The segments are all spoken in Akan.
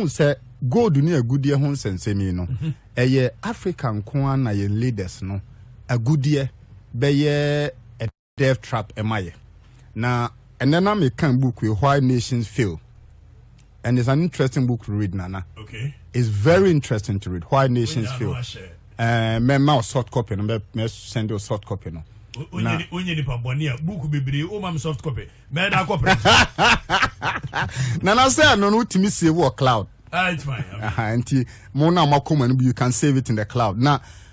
wɔn sɛ gold ne agudeɛ ho nsɛnsɛm yi no mhm. ɛyɛ africa nko ara na yɛn leaders no agudeɛ bɛyɛ Death Trap ma yɛ. Na ɛnɛ na mekan book yi Why Nations Fail and it's an interesting book to read nana. Okay. It's very interesting to read Why Nations Fail. Uh, me ma soft copy no me me send you soft copy no. Na onye nipa bɔne a book bebree o ma me soft copy. Me da copy. Nana sɛ ɛno no wotumi save wɔ cloud. Ah, it's fine. Aha, nti mo na mo akoma no bi you can save it in the cloud. Na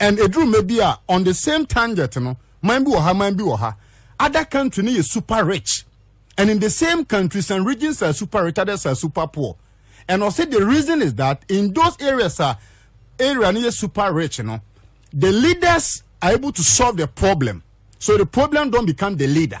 and eduru mɛ bi a on the same tangent no man bi wɔ ha man bi wɔ ha other country no yɛ super rich and in the same country some regions are super rich others are super poor and ɔsɛ the reason is that in those areas a area no yɛ super rich no the leaders are able to solve the problem so the problem don't become the leader.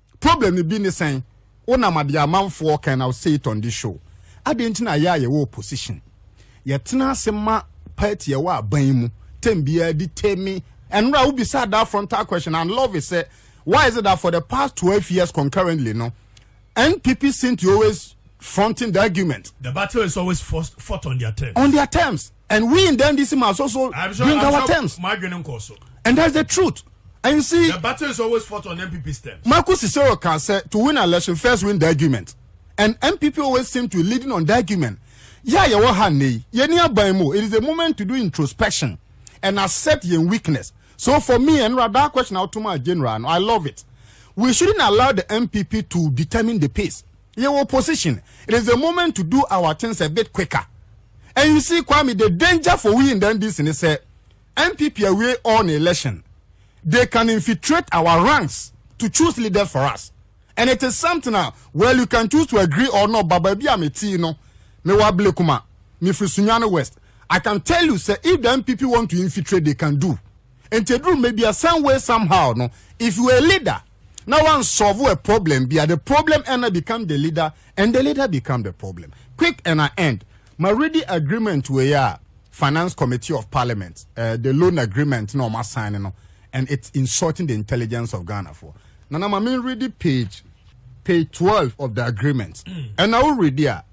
Problem no bi ne sɛn? Wonam ade a amanfoɔ can now say it on this show adɛn nti na yɛ a yɛwɔ opposition yɛtena ase ma party ɛwɔ aban yi mu term biara determine ɛnora wobisa that frontal question and love is sɛ why is it that for the past 12 years concurrently no NPP seem to always fronting the argument The battle is always forced, fought on their terms. on their terms and we in the ndc must also I'm sure, bring I'm our sure terms my adwene nkɔ so and that's the truth and you see the battle is always fought on npp stems marcus cicero can say to win an election first win the argument and npp always seem to be leading on the argument yeah yeah what hand ye ni aban mu it is a moment to do introspection and accept your weakness so for me and that question out to my general i love it we shouldn't allow the npp to determine the pace Yɛwɔ position, it is the moment to do our things a bit quicker and you see Kwame the danger for we in the NDC ne sɛ NPP awie all ne election they can infiltrate our ranks to choose leaders for us and it is something a well you can choose to agree or not ba baabi a metii no mewɔ Ablekuma mefiri Sunyani West I can tell you sɛ if the NPP want to infiltrate they can do nti eduru mmɛ bia some way somehow no if you are a leader na wan solve a problem bia the problem ɛna become the leader and the leader become the problem quick and I end ma ready agreement wei a finance committee of parliament uh, the loan agreement na ɔma sign no and it's insulting the intelligence of Ghana for na na ma me ready page page twelve of the agreement ɛna o ready a.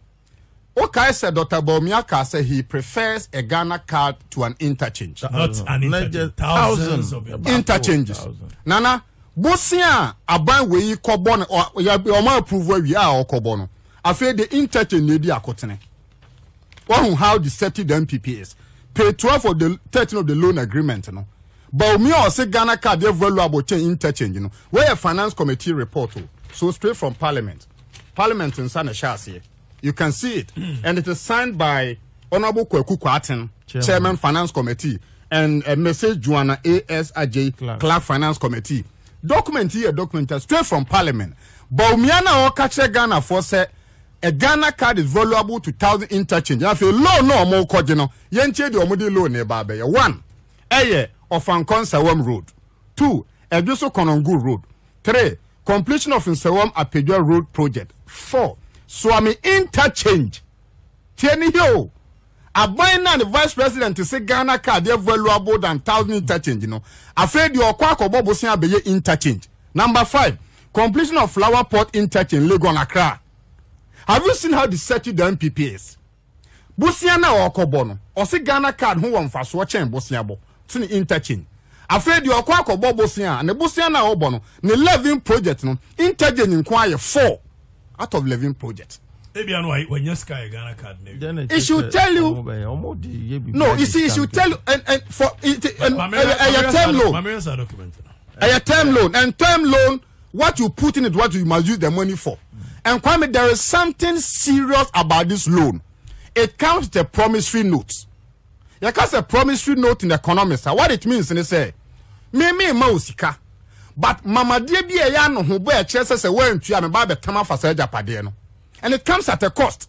Wokae sɛ Dɔkta Bawumia kaa sɛ he prefers a Ghana card to an interchange. Not an interchange, thousands of interchanges. Nana, bosea a aban wei yi kɔbɔ no, wɔn approve awie a ɔkɔbɔ no, afei de interchange na edi akotene. Wahu how deceptive the NPP is. Pay 12 of the 13 of the loan agreement no. Bawumia ɔse Ghana card yɛ valuable kyɛn interchange no. Wɔyɛ finance committee report o. So straight from parliament. Parliament nsa na ɛhyɛ aseɛ. You can see it and it is signed by Honourable Kwaku Kwaten, Chairman, Chairman Finance Committee and uh, Mrs. Joanna A.S. Ajay, Clark. Clark Finance Committee. Document yi yɛ document a straight from Parliament. Bawumia na ɔka kyerɛ Ghanafoɔ sɛ a Ghana card is valuable to thousand interchange. Na afei loan na wɔn kɔgye no yɛntie deɛ wɔn de loan na ɛba abɛyɛ. One ɛyɛ Ɔfankɔ Nsawam road. Two, Ɛdweso Konongo Road. Three, Completion of Nsawam Apedwa Road Project. Four, Suame Interchange. Tie ne hio. Aban na ne Vice President se Ghana car deɛ valuable than thousand interchange no. Afei deɛ ɔkɔ akɔbɔ bosen abɛyɛ interchange. Number five, Completion of Flower Port Interchange, Legon Accra. Have you seen how deceptive the NPP is? Bosea no a ɔrekɔbɔ no, ɔse Ghana card ho wɔ mfasoɔ kyɛn bosea bɔ, to ne interchange. Afei deɛ ɔkɔ akɔbɔ bosea a, ne bosea no a ɔbɔ no, ne levin project no, interchange nko ara yɛ four out of levin project. Ebia no wanya sika yɛ Ghana card no awie. It should tell you, no, you see, it should tell you, and, and for, it, and, ɛyɛ term loan. Ɛyɛ term loan, and term loan what you put in it what you must use the money for and kwame there is something serious about this loan it comes with a promissory note yɛ ka sɛ promissory note in economics a what it means ne sɛ me me ma o sika but mamadeɛ bi a ɛyɛ ano ho bɔ ɛkyerɛ sɛ sɛ wɔantua me ba abɛtam afa saa agyapadeɛ no and it comes at a cost.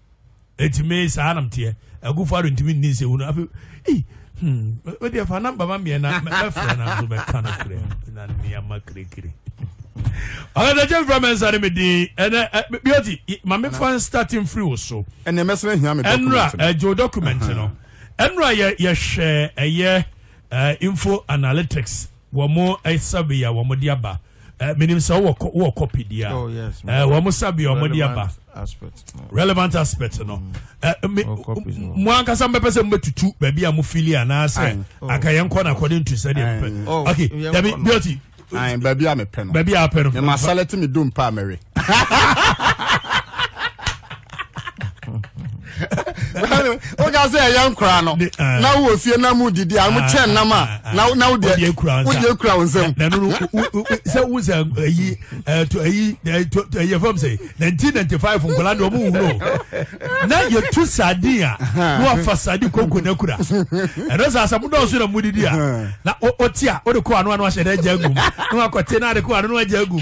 eti me saa nam teɛ agufo ado ntumi nni nsɛwu no afei ei hmm wode ɛfa namba ma mmiɛ na mɛfrɛ na nso mɛka no frɛ na nneɛma kirikiri ɔkadagye mfra mɛ nsa ne me din ɛnɛ bioti ma mefa nstart mfiri wo so ɛnɛ mɛsena hia me ɛnora ɛgye wo document no ɛnora yɛhwɛ ɛyɛ info analytics Wɔn survey a wɔn de aba. Uh, menim sɛ wowɔ wowɔ copy deɛ a. Oh yes. Uh, wɔn survey a wɔn de aba. Aspect. No. Relevant aspect no. Mm. Uh, me, mo ankasa mbɛpɛ sɛ mbɛtutu baabi a mo fili anaasɛ oh. anka yɛn kɔ na according to sɛ deɛ mpɛ. Oh, okay. Dabi beauty. Ayi baabi a mepɛ no. Baabi a apɛ no. Mɛ ma salati mi dum pa mɛwe. woka sɛ ɛyɛ nkora no ah. na wowɔ fie na mu didi a mo kyɛ ah, nnam a ah, na wodeɛ kura wo nsɛm sɛ wo sɛ ayi ayi ɛyɛ fam sɛ 1995 nkɔla deɛ ɔmo wuro na yɛtu sardin a na wafa sardin konko no akura ɛno sɛ asɛ modɔɔso na modidi a na ɔte a wode kɔ ano ano ahyɛ dɛ agya agum na wakɔte na ade kɔ ano no agya agum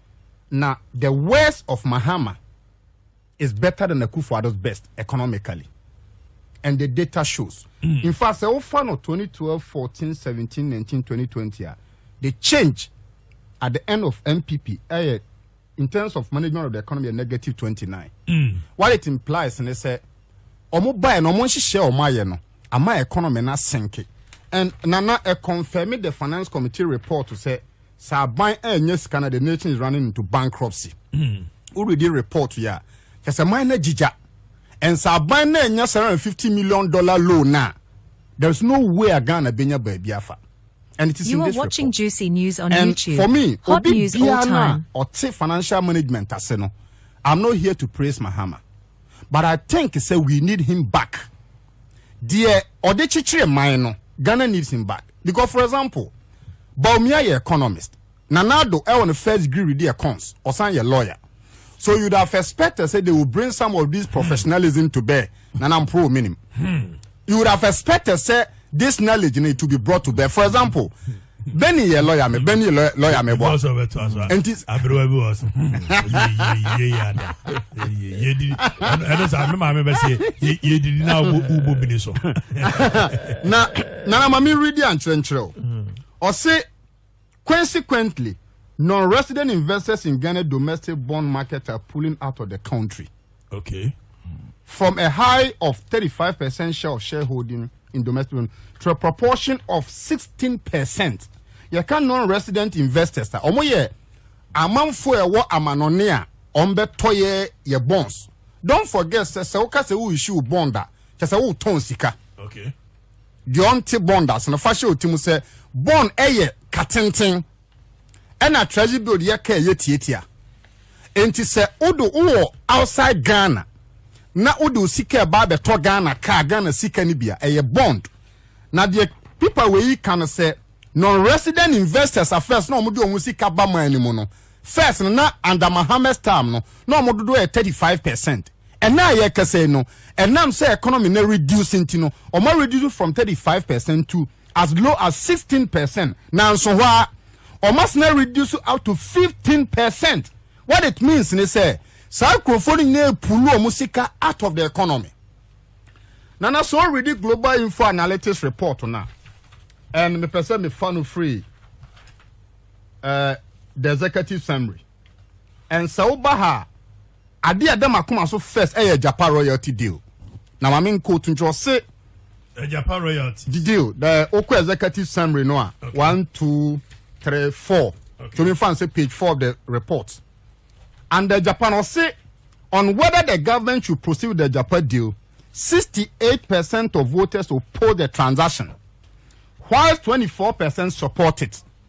na the worst of Mahama is better than Akufo-Addo's best economically and the data shows hmm. in fact sɛ wofa no 2012 14 17 19 2020 a the change at the end of MPP ɛyɛ in terms of management of the economy a negative 29 mm. what it implies ne sɛ ɔmo baeɛ no ɔmo nhyehyɛ ɔmo ayɛ no ama economy na senke and nana ɛconfirm the finance committee report sɛ Sɛ aban annya sika na the nation is running into bankruptcy, wo readi report yi a, kyerɛ sɛ man no agyigya. And sɛ aban no annya seven hundred and fifty million dollar loan a, there is no way a Ghana bɛnya baabi afa. And it is in this report. You are watching Juicy News on And YouTube. for me, Hot obi news all biara no a time. ɔte financial management ase no, I'm not here to praise Mahama, but I think sɛ we need him back. deɛ ɔde kyekyere man no Ghana needs him back because for example Bawumia yɛ economist Nana Addo ɛwɔ ne first degree redi econs ɔsan yɛ lawyer so you'd have expected say they will bring some of these professionalism to bear Nana Mprɔw ominim you would have expected say this knowledge no it will be brought to bear for example. Benny yɛ lɔya mi Benny yɛ lɔya mi bɔ. Bɔsɔ bɛ to aso a. Nti. Aberewa bi wɔ so. Ye ye ye ada. Ye ye di. Ɛno sa mi maame bɛ se ye ye di di na ubo ubo bini so. Na nana maame redi ankyerɛnkyerɛ o. Ɔse hmm. consequently non-resident investors in Ghana domestic bond market are pulling out of the country. Okay. From a high of 35 percent share of shareholding in domestic loan to a proportion of 16 percent. Yɛka non-resident investors a wɔn yɛ amanfo a ɛwɔ amanɔne a wɔn bɛtɔ yɛ yɛ bonds. Don't forget sɛ sɛ woka sɛ wo issue bond a kyɛ sɛ wotɔn sika. Okay. Deɛ ɔnte bond ase no fa hyɛ ɔti mu sɛ bond ɛyɛ katenten. ɛna treasury bill de yɛka ɛyɛ tiatia nti sɛ wodo wowɔ outside Ghana na wode wo sika ɛba abɛtɔ Ghana kaa Ghana sika no bia ɛyɛ bond na deɛ pipa wei ka no sɛ non-resident investors a first na wɔde wɔn sika ba man no mu no first no na under Mohammed's time no na wɔn dodoɔ yɛ thirty five percent ɛna a yɛkasa yi no ɛnam sɛ economy na reduce nti no wɔn reduce from thirty five percent to as low as 16 percent nanso hɔ a wɔasena reduce up to 15 percent what it means ne sɛ saa nkurɔfoɔ no nyinaa pulu wɔn sika out of the economy nana so already global info analytics report na and me sɛ me fa no free uh, the executive summary and sɛ woba ha Ade a ɛda m'akoma so first yɛ Agyapa royalty deal. Na ma me nkɔ to nkyerɛ ɔse. Agyapa royalty. The deal the okɔ executive summary no a okay. one two three four. Okay. To me fan say page four of the report. And the Japan ɔse on whether the government should proceed with the Agyapa deal. 68% of voters oppose the transaction, while 24% support it.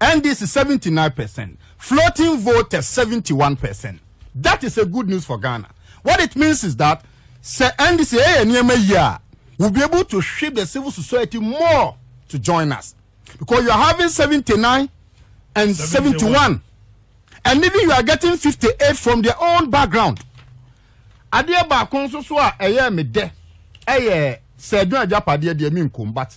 NDC seventy nine percent floating voters seventy one percent that is a good news for Ghana what it means is that sɛ NDC ɛyɛ eh, nneɛma yie a we'll be able to shift the civil society more to join us because you are having seventy nine and seventy one and even you are getting fifty eight from their own background adeɛ baako nso so a ɛyɛ me dɛ ɛyɛ sɛ adwuma agyapadeɛ deɛ mi nkom but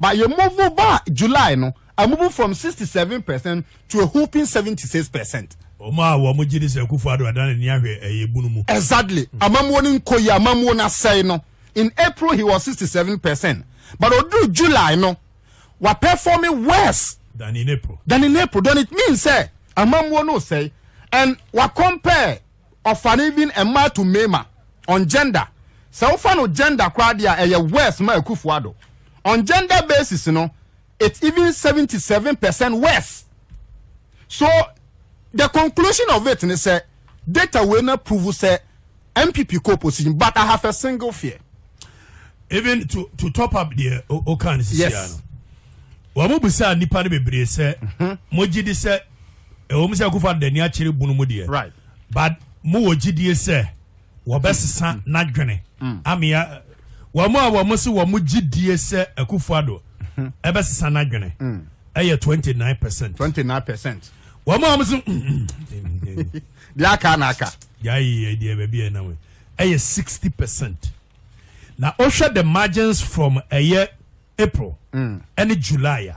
But yɛ move baa July no, I move from sixty seven percent to a whooping seventy six percent. Wɔn a wɔn gye di sɛ Akufo Addo adan n'ani ahwɛ ɛyɛ bunu mu. Exactly. Amammuo no nkɔ yie, amammuo no asɛe no. In April he was sixty seven percent but oduru July no, wa perform worse. Than in April. Than in April. Then it means sɛ amammuo no resɛe and wa compare. Ɔfan even mmaa to mmarima on gender. Sɛ wofa no gender koraa deɛ a ɛyɛ worse ma Akuffo Addo. On gender basis no it's even seventy seven percent worse. So the conclusion of it ne sɛ data wei no approve sɛ NPP kɔ opposition but I have a single fear. Even to to top up deɛ oka no sisi ano. Wɔn mo bisa nipa no bebree sɛ mo gyi di sɛ ɛwɔ mu sɛ Akuffo Addo n'ani akyere bunu mu deɛ. Right. but mo wɔ gyidie sɛ wɔbɛsesa mm. n'adwene mm. amea wɔn a wɔn se wɔn gyidie sɛ akufuado mm-hmm. ɛbɛsesa n'adwene mm. ɛyɛ twenty nine percent. twenty nine percent. wɔn a wɔn se. deɛ aka na aka. deɛ ayɛ deɛ baabi yɛ nam ɛyɛ sixty percent na wohwɛ the margins from ɛyɛ april ɛne july a.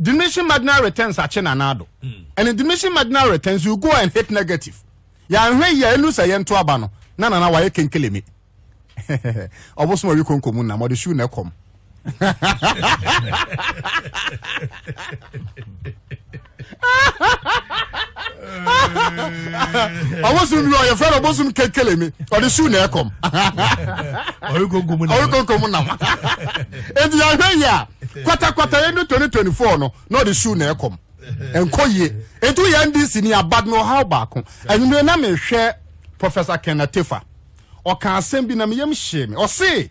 Diminishing marginal returns akye nanado. Ɛne diminishing marginal returns you go and hit negative. Yɛanhwɛ yie a ɛnu sɛ yɛnto aba no na Nana wayɛ kenkeleme. Ɔbosom awi konko mu nam, ɔde shoe na ɛkɔm. ɔbosom bi ɔyɛ fɛn ɔbosom kekele mi ɔde su na ɛkɔm ɔyɛ konko mu nam ɔyɛ konko mu nam eti ahwɛ yi a kwatakwatakwa yɛ ne twenty twenty four no na ɔde su na ɛkɔm nkɔ yie etu yɛ ndc ni abad na ɔhaw baako enyimire na mehwɛ professor kenneth tefa ɔka asɛm bi na meyam hyee me ɔsee.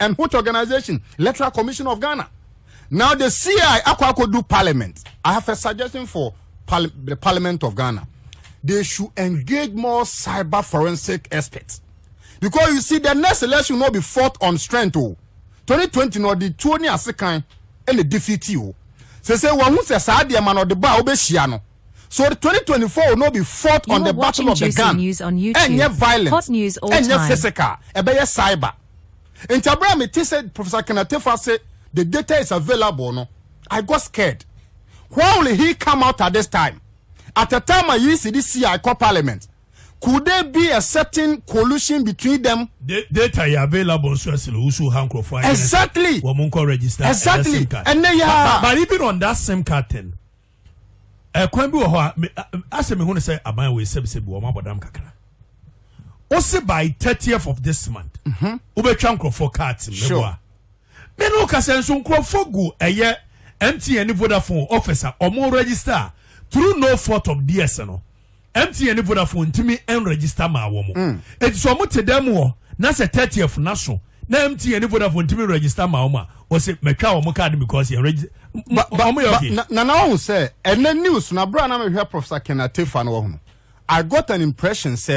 and which organization electoral commission of ghana now the ci akɔ akɔ do parliament i have a suggestion for the parliament of ghana they should engage more cyber forensic experts because you see the next election will be fought on strength o 2020 no ɔde tuo ne ase kan ɛna defeat o sɛ sɛ wɔn ho sɛ saa deɛ ma na ɔde ba a wɔbɛhyia no So the twenty twenty four will not be fought on the battle of the gun, ɛnyɛ violent, ɛnyɛ physical, ɛbɛyɛ cyber. Nti abere a mete sɛ Professor Kenatefa se the data is available no, I got scared. Why will he come out at this time? At a time a yisi de si I call parliament. Could there be a certain collusion between them? The data yɛ available nso ɛsɛ na wusu ha nkurɔfoɔ ayɛ exactly wɔn nkɔ register exactly ɛnɛ yɛ a but even on that sim card thing. ɛkwan bi wɔ hɔ a me asɛ mehu no sɛ aban wei sɛbisɛbi wɔn abɔdam kakra wose by thirtieth of this month mhm. wobɛtwa nkurɔfoɔ kaat mɛboa me ne wokasɛ nso nkurɔfoɔ gu ɛyɛ mtn ne vodafone office a ɔmo register through no fault of theirs no MTN ne Vodafone ntumi nregister maa wɔn. Eti sɛ wɔn te dan mu hɔ na sɛ thirtieth na so na MTN ne Vodafone ntumi register maa wɔn a, wɔsi mɛtwa wɔn card because yɛn register. Wɔn yɛ okay. Na na na wɔn sɛ ɛnɛ news na abira na mehwɛ Professor Ken Atefa na wɔn no. I got an impression sɛ.